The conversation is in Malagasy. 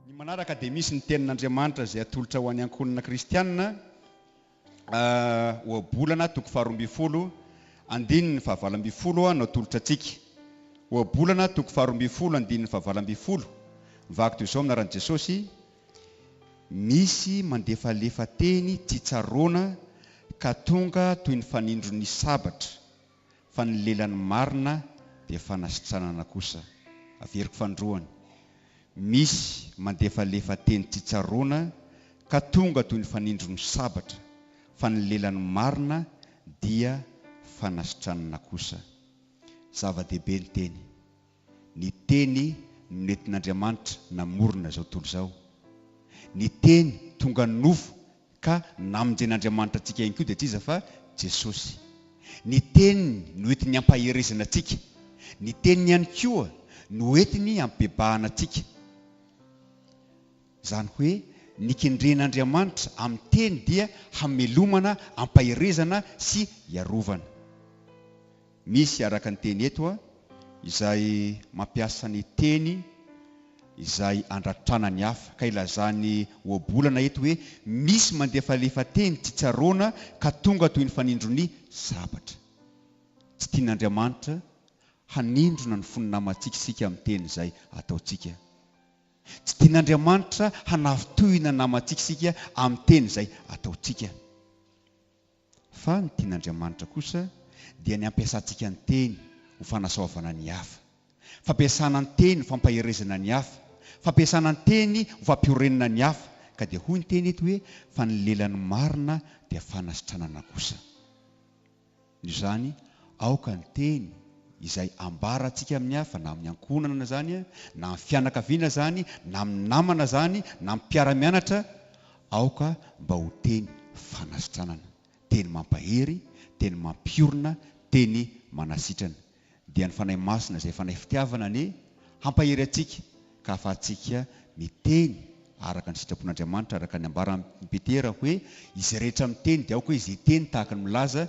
Ny manaraka dia misy ny Tenin'Andriamanitra izay atolotra ho an'ny ankohonana kristiana, Ohabolana toko faharoa ambin'ny folo, andininy fahavalo ambin'ny folo no atolotra antsika. Ohabolana toko faharoa ambin'ny folo, andininy fahavalo ambin'ny folo, Vakiko izao amin'ny anaran'i Jesosy, Misy mandefalefa teny tsy tsaroana ka tonga toy ny fanindron'ny sabatra fa ny lelan'ny marina dia fanasitranana kosa. Averiko fandroana. Misy mandefalefa teny tsy tsaroana ka tonga toy ny fanindron'ny sabatra fa ny lelan'ny marina dia fanasitranana kosa. Zava-dehibe ny teny. Ny Teny no nentin'Andriamanitra namorona izao tontolo izao. Ny Teny tonga nofo ka namonjen'Andriamanitra antsika ihany koa dia tsy iza fa Jesosy. Ny Teniny no entiny hampaherezana antsika. Ny Teniny ihany koa no entiny hampibebahana antsika. Izany hoe ny kendren'Andriamanitra amin'ny Teny dia hamelomana, hampaherezana sy hiarovana. Misy araka ny teny eto izay mampiasa ny teny izay andratrana ny hafa ka ilazan'i Ohabolana eto hoe misy mandefalefa teny tsy tsaroana ka tonga toy ny fanindro ny sabatra. Tsy tian'Andriamanitra hanindrona ny fon'ny namantsika isika amin'ny teny izay ataontsika. Tsy tian'Andriamanitra hanafintohina ny namantsika isika amin'ny teny izay ataontsika. Fa ny tian'Andriamanitra kosa dia ny hampiasantsika ny teny ho fanasoavana ny hafa. Fampiasana ny teny ho fampaherezana ny hafa, fampiasana ny teny ho fampiorenana ny hafa, ka dia hoy ny teny eto hoe, fa ny lelan'ny marina dia fanasitranana kosa. Noho izany, aoka ny teny izay ambarantsika amin'ny hafa, na amin'ny ankohonana izany, na amin'ny fianakaviana izany, na amin'ny namana izany, na amin'ny mpiara-mianatra, Aoka mba ho teny fanasitranana, teny mampahery, teny mampiorina, teny manasitrana. Dia ny Fanahy Masina izay Fanahy Fitiavana anie hampahery antsika ka hahafahantsika miteny araka ny sitrapon'Andriamanitra araka ny ambaran'i Petera hoe, Izay rehetra miteny dia aoka izy hiteny tahaka ny milaza